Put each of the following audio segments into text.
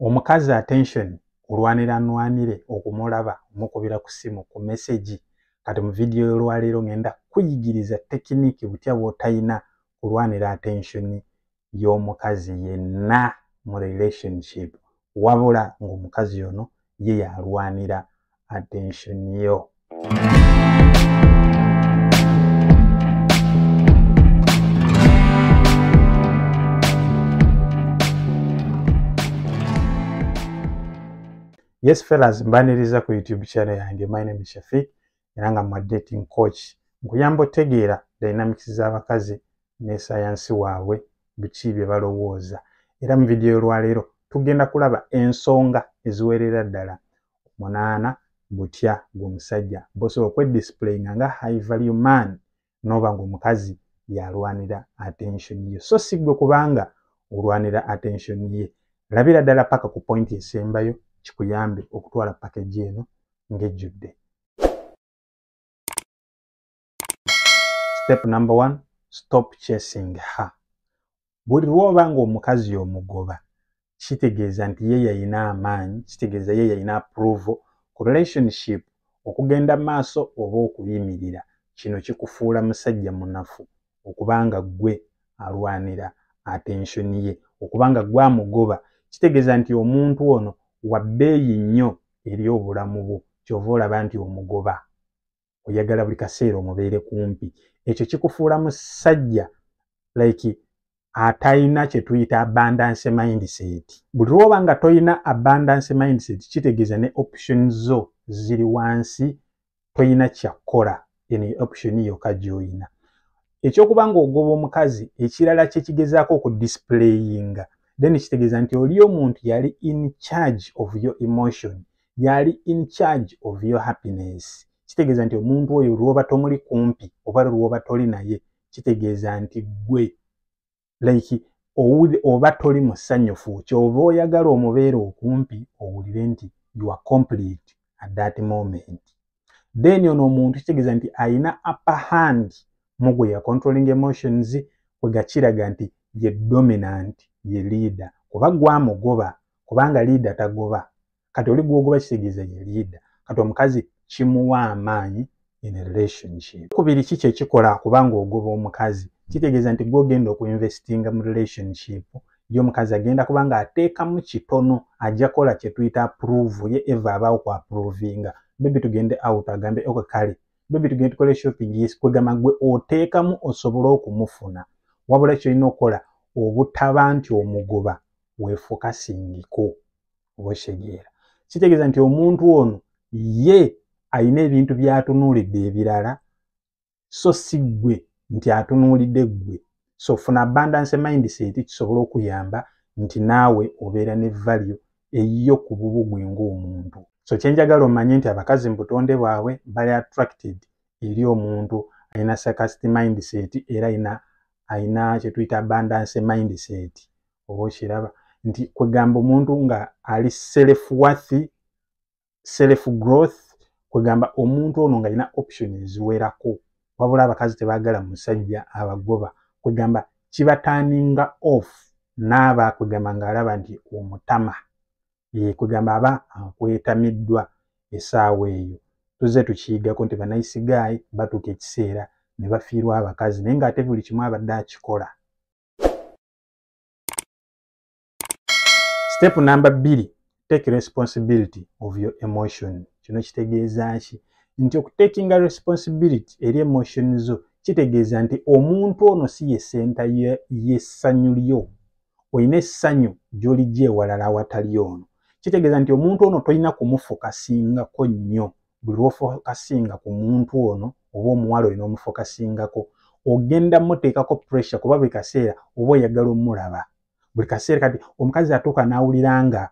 omukazi attention olwanira nwanire okumulaba omukubira ku simu ku mesegi kati mu vidiyo y'olwaleero ngenda kuyigiriza tekiniki butya bwotayina kulwanira attention y'omukazi yenna mu relationship wabula ng'omukazi ono ye yalwanira attention yo yes fellas mbaniriza ku youtube channel yange my name is shafik era nga mu dating coach nkuyamba otegeera dynamics z'abakazi ne sayansi waabwe biki bye balowooza era mu vidiyo olwaleero tugenda kulaba ensonga eziwerera ddala munaana butya gweomusajja bosobola okwedisiplayinga nga high value man noba ngaomukazi yalwanira attention ye so si gwe kubanga olwanira attention ye labira ddala paka ku pointi esembayo kikuyambe okutwala pakeji eno ngejjudde step number one stop chasing her buli lwoba nga omukazi omugoba kitegeeza nti ye yayina amaanyi kitegeeza ye yayina approval ku relationship okugenda maaso oba okuyimirira kino kikufuula musajja munafu okubanga gwe alwanira attention ye okubanga gwe amugoba kitegeeza nti omuntu ono wabbeeyi nnyo eri obulamu bwo kyova olaba nti omugoba oyagala buli kaseera omubeere kumpi ekyo kikufuula musajja like atalina kyetuyita abundance mindset buli lwoba nga tolina abundance mindset kitegeeza ne option zo ziri wansi tolina kyakkola eno option yoka gyoyina ekyokuba nga ogoba omukazi ekirala kyekigezaako okudisplayinga then kitegeeza nti oli omuntu yali in charge of your emotion yali in charge of your happiness kitegeeza nti omuntu oyo lwoba tomuli kumpi oba lwoba toli naye kitegeeza nti gwe like oba toli musanyufu kyova oyagala omubeera okumpi owulire nti you are complete at that moment then ono omuntu kitegeeza nti alina upper hand mugwe ya controlling emotions kwegakiraga nti ye dominant ye leader kuba gwamugoba kubanga leader tagoba kati oli gwogoba kitegeeza ye liida kati omukazi kimuwa amaanyi in relationship kubiri ki kyekikola kubanga ogoba omukazi kitegeeza nti gwogenda okuinvestinga mu relationship ye omukazi agenda kubanga ateekamu kitono ajja kola kyetuyita approve ye eva abaawo ku approvinga bebi tugende out agambe ok kale bebi tugende tukole shopping yes kwegamba gwe oteekamu osobole okumufuna wabula kyolina okukola obutaba nti omugoba wefukasingiko oba okitegeera kitegeeza nti omuntu ono ye alina ebintu byatunuulidde ebirala so si ggwe nti atunuulidde ggwe so funa abundance mindset kisobola okuyamba nti naawe obeera ne value eyiyo ku bubu gwe ng'omuntu so kyenjagala omanye nti abakazi mu butonde bwabwe bali attracted eri omuntu alina sarcastic mindset era alina alina kyetuyita abundance mindset oba okiraba nti kwegamba omuntu nga ali self worth self growth kwegamba omuntu ono nga alina option eziwerako wabula abakazi tebagala musajja abagoba kwegamba kibataninga off naaba kwegamba ngaalaba nti omutama kwegamba aba akwetamiddwa esaawa eyo tuzze tukiigako nti banayisigaayi batuuka ekiseera ne bafiirwa abakazi naye ngaate buli kimu abadde akikola Step number bbiri take responsibility of your emotion kino kitegeeza ki nti okutekinga responsibility eri emotion zo kitegeeza nti omuntu ono si ye senta y'essanyu lyo olina essanyu gy'olijja ewalala awatali ono kitegeeza nti omuntu ono tolina kumufukasinngako nnyo buli lwofokasinga ku muntu ono oba omuwala olina omufokasingako ogenda muteekako pressure kuba buli kaseera oba oyagala omulaba buli kaseera kati omukazi atuuka n'awulira nga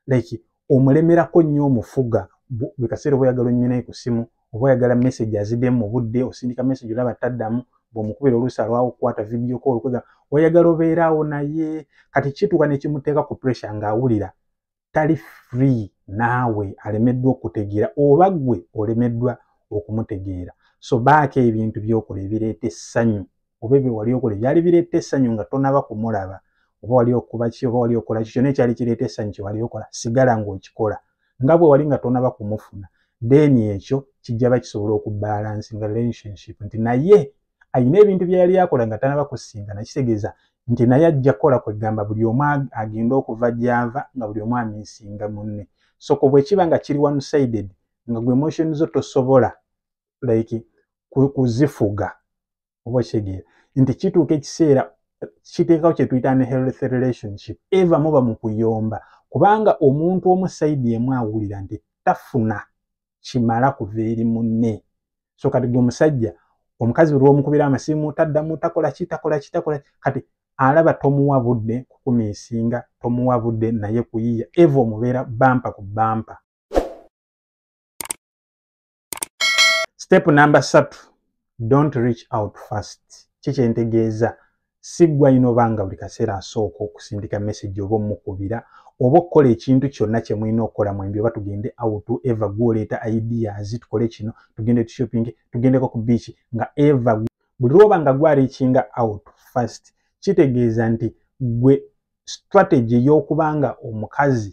like omulemerako nnyo omufuga buli kaseera oba oyagala onyuminaye ku simu oba oyagala message azidemu mu budde osindika message olaba taddamu bwomukubira oluusi alwawo okukwata vidiyo ko olukwega oyagala obeeraawo naye kati kituuka nekimuteeka ku pressure ng'awulira tali free naawe alemeddwa okutegeera oba gwe olemeddwa okumutegeera so baako ebintu byokola ebireeta essanyu oba ebyo wali okola ebyali bireeta essanyu nga tonaba kumulaba oba wali okuba ki oba wali okola ki kyona ekyali kireeta essanyu kyewali okola sigala ngaokikola nga bwe wali nga tonaba kumufuna then ekyo kijjaba kisobola okubaalansi nga relationship nti naye alina ebintu bye yali akola nga tanaba kusinga nakitegeeza nti naye ajja kukola kwegamba buli omu agenda okuva gyava nga buli omu amisinga munne soko bwekiba nga kiri one sided nga gwe emotion zo tosobola like kuzifuga oba kitegeera nti kituuka ekiseera kiteekawo kyetuyita ne health relationship eva muba mu kuyomba kubanga omuntu omu saidi emu awulira nti tafuna kimala kuva eri munne so kati gwe omusajja omukazi buli womukubira amasimu taddamu takola ki takola ki takola kati alaba tomuwa budde kukumiisinga tomuwa budde naye kuyiya eva omubeera bampa ku bampa step number satu don't reach out first kikyentegeeza si gwalina oba nga buli kaseera asooka okusindika message oba omukubira oba okukola ekintu kyonna kye mulina okukola mwembi oba tugende out eva gwoleeta ideas tukole kino tugende tushopping tugendeko ku beach nga eva buli lwoba nga gwarikinga out first kitegeeza nti gwe strategy ey'okubanga omukazi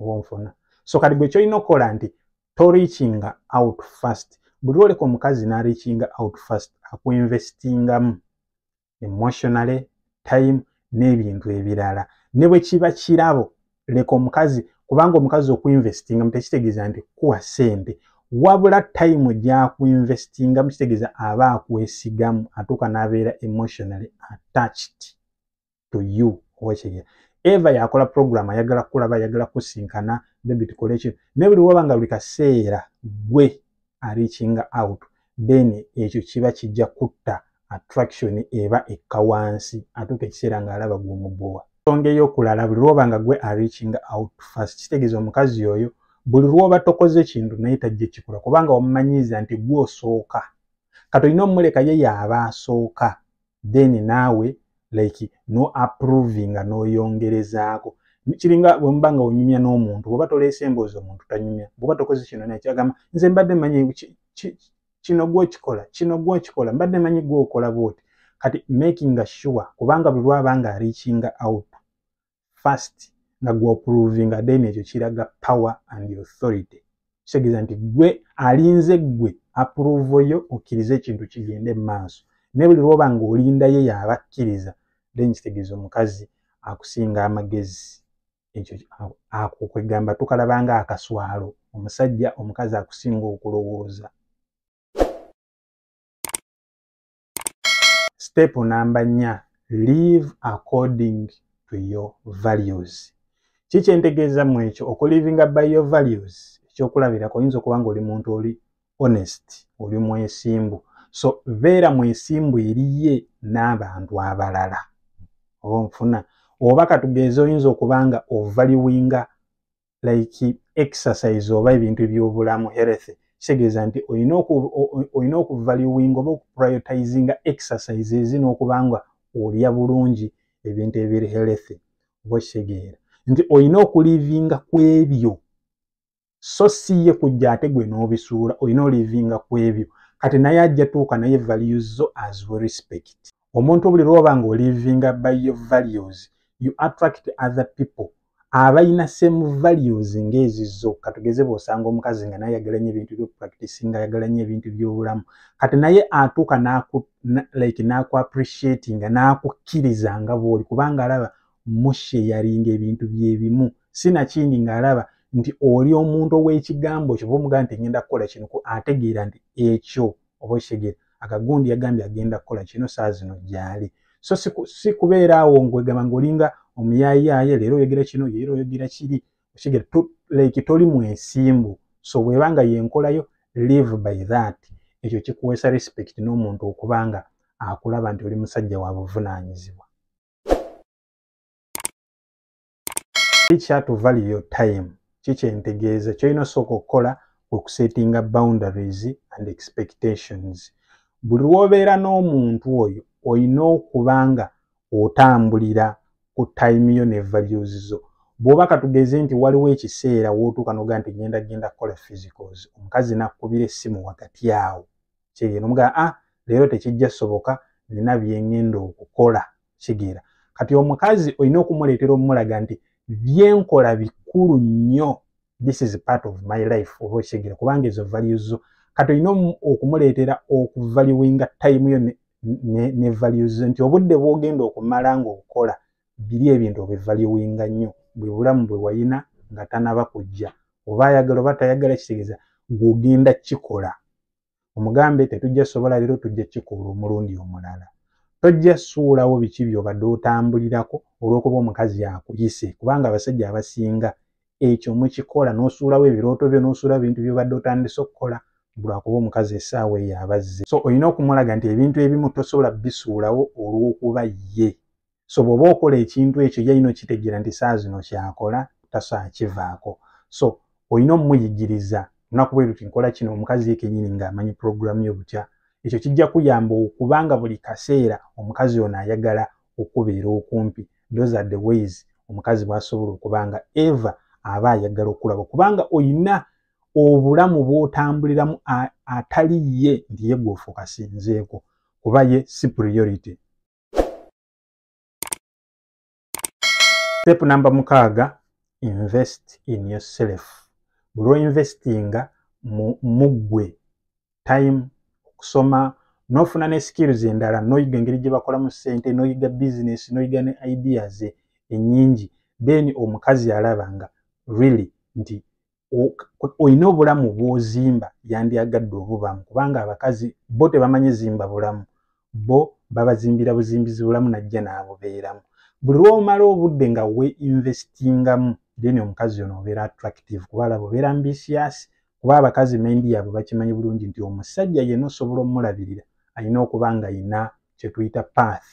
oba onfuna so kati gwe kyolina okukola nti torikinga out first buli lwoleka omukazi narikinga out first akuinvestingamu emotionally time n'ebintu ebirala ne bwe kiba kirabo leka omukazi kubanga omukazi okuinvestinga mutekitegeeza nti kuwa sente wabula time gyakuinvestinga mukitegeeza aba akwesigamu atuuka n'abeera emotionally attached to you owekigera eva yakola program ayagala kulaba ayagala kusinkana bebi tukole ekyo naye buli waba nga buli kaseera gwe arikinga out then ekyo kiba kijja kutta attraction eba ekka wansi atuuka ekiseera ng'alaba gwomubowa nsonga eyokulala buli lwoba nga gwe arikinga out fast kitegeeza omukazi oyo buli lwoba tokoze kintu naye tajja ekikola kubanga wamumanyiiza nti gwe osooka katolina omumuleka ye yaaba asooka then naawe like no approving nga noyongerezaako kiringa bwemuba nga onyumya n'omuntu bwoba toleese emboozi omuntu tanyumya bwoba tokoze kino naye kyagamba nze mbadde manyi kino gwokikola kino gwokikola mbadde manyi gwokola bwoti kati makinga sure kubanga buli lwaba nga arikinga out first nga gwe oprovinga then ekyo kiraga power and authority kitegeeza nti gwe alinze gwe aprovo yo okkirize ekintu kigende mu maaso naye buli lwoba nga olindayo yaaba akkiriza then kitegeeza omukazi akusinga amagezi ekyo ako kwegamba tukalabanga akaswalo omusajja omukazi akusinga okulowooza step namba nnya live according to your values ki kyentegeeza mu ekyo okulivinga by your values ekyokulabirako oyinza okuba nga oli muntu oli honest oli mwesimbu so beera mwesimbu eriye n'abantu abalala oba nfuna oba katugeeza oyinza okuba nga ovaliwinga like exercise oba ebintu ebyobulamu health kitegeeza nti olina okuvaluwinga oba okuprioritizinga exercise ezi n'okuba nga olya bulungi ebintu ebiri health oba okitegeera nti olina okulivinga ku ebyo so si ye kujja ate gwe n'obisuula olina olivinga ku ebyo kati naye ajja tuuka naye values zo as we respect omuntu buli lwoba nga olivinga by your values you attract other people abalina same values ngaezizo katugeze bwosanga omukazi nga naye ayagala nyo ebintu byopractice nga ayagala nyo ebintu byobulamu kati naye atuuka like naku appreciati nga nakukkiriza nga bwoli kubanga alaba mushe yalinga ebintu byebimu sinakindi ngaalaba nti oli omuntu owekigambo kyoba omugaa nti ngenda kukola kino ategeera nti ekyo oba okitegeera akagundi yagambye agenda kukola kino saa zino gyali so si kubeera awo ngwegamba ngaolinga omuyayaaye leero oyogera kino yeera oyogera kiri okitegeera like toli mwesimbu so bweba nga yenkolayo live by that ekyo kikuweesa respect n'omuntu okuba nga akulaba nti oli musajja wa buvunaanyizibwa Teacher to value your time. Kiki entegeeza kyolina osooka okukola okusetinga boundaries and expectations. Buli lw'obeera n'omuntu oyo olina okuba nga otambulira ku time yo ne values zo. Bw'oba katugeze nti waliwo ekiseera w'otuuka n'ogaa nti ngenda genda kukola physicals, omukazi n'akkubira essimu wakati awo kyeyina omugaa a ah, leero tekijja soboka nina byengenda okukola kigera kati omukazi olina okumuleetera omumulaga nti byenkola bikulu nnyo this is part of my life oba okigera kubanga ezo values zo kati olina okumuleetera okuvaluwinga time yo ne values zo nti obudde bwogenda okumala nga okola biri ebintu obivaluwinga nnyo bwe bulamu bwe wayina nga tanaba kujja oba ayagala oba tayagala kitegeeza gwogenda kikola omugambe tetujja sobola leero tujja kikola omulundi omulala tojja suulawo biki byobadde otambulirako olwokuba omukazi akuyise kubanga abasajja abasinga ekyo mukikola nosuulawo ebirooto byo nosuula bintu byobadde otandise okukola lwakuba omukazi esaawa eyo abazze so olina okumulaga nti ebintu ebimu tosobola bisuulawo olwokuba ye so bwoba okola ekintu ekyo yalina okitegeera nti saa zino kyakola taso akivaako so olina omumuyigiriza lunaku bwe luti nkola kino omukazi yekenyini ngaamanyi puroguramu yo butya ekyo kijja kuyamba okubanga buli kaseera omukazi ono ayagala okubeera okumpi those are the ways omukazi bwasobola okuba nga eva aba ayagala okulaba kubanga olina obulamu bwotambuliramu atali ye nti ye gwofuukasinzeeko kuba ye si priority step namba mukaaga invest in yourself buli oinvestinga muggwe time okusoma nofuna ne skills endala noyiga engeri gye bakolamu ssente noyiga business noyiga ne ideas enyingi then omukazi alaba nga really nti olina obulamu bwozimba yandyagadde obubamu kubanga abakazi bo tebamanyi zimba bulamu bo babazimbira buzimbizi bulamu najja naabubeeramu buli lwomala obudde nga we investingamu then omukazi ono obeera attractive kuba alaba obeera ambisias kuba abakazi mendi yabwe bakimanyi bulungi nti omusajja yena osobola omulabirira alina okuba nga yina kyetuyita path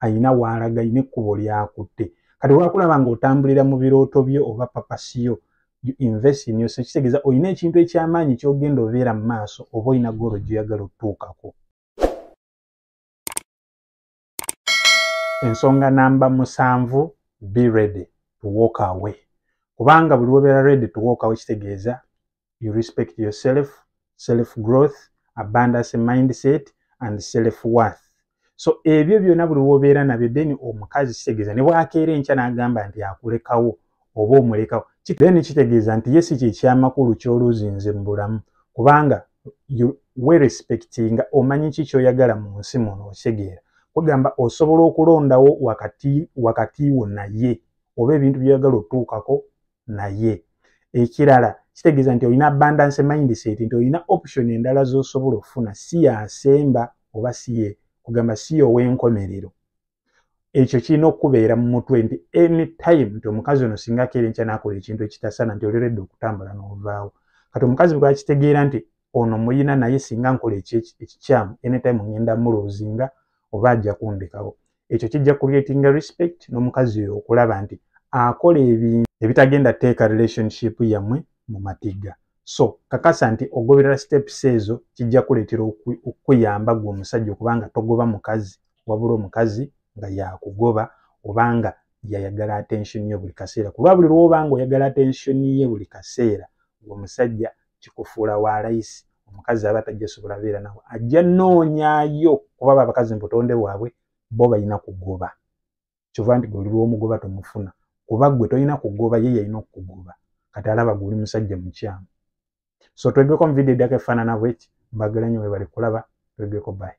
alina waalaga alina ekkubo lyakutte kati wakulaba nga otambulira mu birooto byo oba papasiyo kitegeeza olina ekintu ekyamaanyi kyogenda obeera mu maaso oba olina goolo gyoyagala otutuukako ensonga namba musanvu be ready to walk away kubanga buli wobeera ready to walk away kitegeeza you respect yourself self growth abundance mindset and self worth so ebyo byona buli wobeera nabyo then omukazi kitegeeza ne bwakeera enkya n'agamba nti akulekawo oba omulekawo then kitegeeza nti ye si kyekyamakulu kyoluzinze mu bulamu kubanga werespectinga omanyi ki kyoyagala mu nsi muno okitegeera kugamba osobola okulondawo wakati wakati wo naye oba ebintu byoyagala otuukako naye ekirala kitegeeza nti olina abundance mindset nti olina option endala z'osobola okufuna si yasemba oba siye kugamba si yowenkomerero ekyo kirina okukubeera mu mutwe nti any time nti omukazi ono singa akeera enkya nakola ekintu ekitasana nti oleredde okutambula novaawo kati omukazi bwakitegeera nti ono muyina naye singa nkola ekikyamu anytime ngenda mulozinga oba ajja kundekawo ekyo kijja creating respect n'omukazi oyo okulaba nti akola ebintu ebitagenda teeka relationship yamwe mu matigga so kakasa nti ogoberera steps ezo kijja kuleetera okukuyamba gwe omusajja okubanga togoba mukazi wabula omukazi nga yakugoba obanga yayagala attention ye buli kaseera kulwa buli lwoba nga oyagala attention ye buli kaseera omusajja kikufuula wa layisi omukazi aba tajja sobola beera nawe ajja noonyayo kuba babakazi mubutonde bwabwe bo balina kugoba kyova nti goli lwomugoba tomufuna kuba gwe tolina kugoba ye yalina okukugoba kati alaba guli musajja mukyamu so twegeko muvidiyo eddako efaanana bweki mbagala nyo webali kulaba twegeko bayi